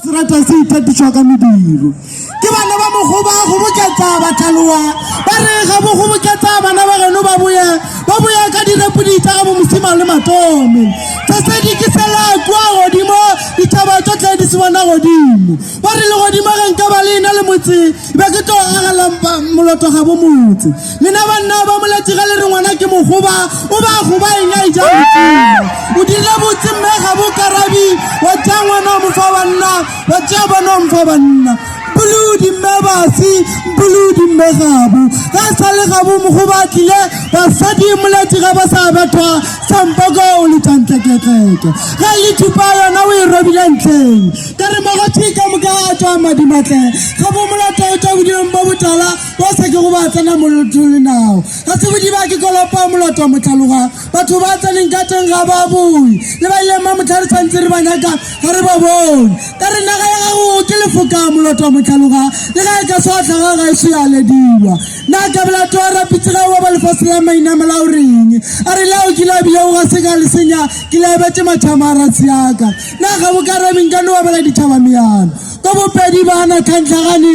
serata se ithatišwa ka mediro ke ba ne ba mogoba go boketsa batlhaloa ba re ga bo go boketsa bana ba geno ba boya ba boya ka direpodi tsa ga bo mosima le matome tsa se di ke sela kwa godimo ditšhaba tsotlhe di se bona godimo ba re le godimo ge nka ba le ena le motse be ke tlo agela moloto ga bo motse lena banna ba moletsi ga le re ngwana ke mogoba o ba goba eng a ija modimo o dirile botse mme ga bo karabi wa tsaya ngwana wa mofa banna wa tsaya bana wa mofa banna bolodi mme basi bolodi mme gabo ga sa le gabo mogoba a tlile basadi moletsi ga ba sa bethwa sampoko o le tantleketleke ga le thupa yona o e robile ntleng ka re mogothika moka a tswa madimatleng ga bo molata o tswa bodilong bo botala bosa ke go ba tsena moloto le nao ga se bodiba ke kolopa moloto wa motlhaloga batho ba tseneng ka teng ga ba bone le ba ileng ba motlha re tshwanetse re ba nyaka ga re ba bone ka re naga ya gago ke lefoka moloto wa motlhaloga le ga e ka seotlhaga ga e sealediwa na kabela to rapitse ga wa ba lefatshe la mainamela o reng a re lao ke labile o ga se ka le senya ke lebetse mathama a ratsi yaka na ga bo ka rabeng ka ne wa bela ditšhaba meano ka bopedi bana tlhantlhagane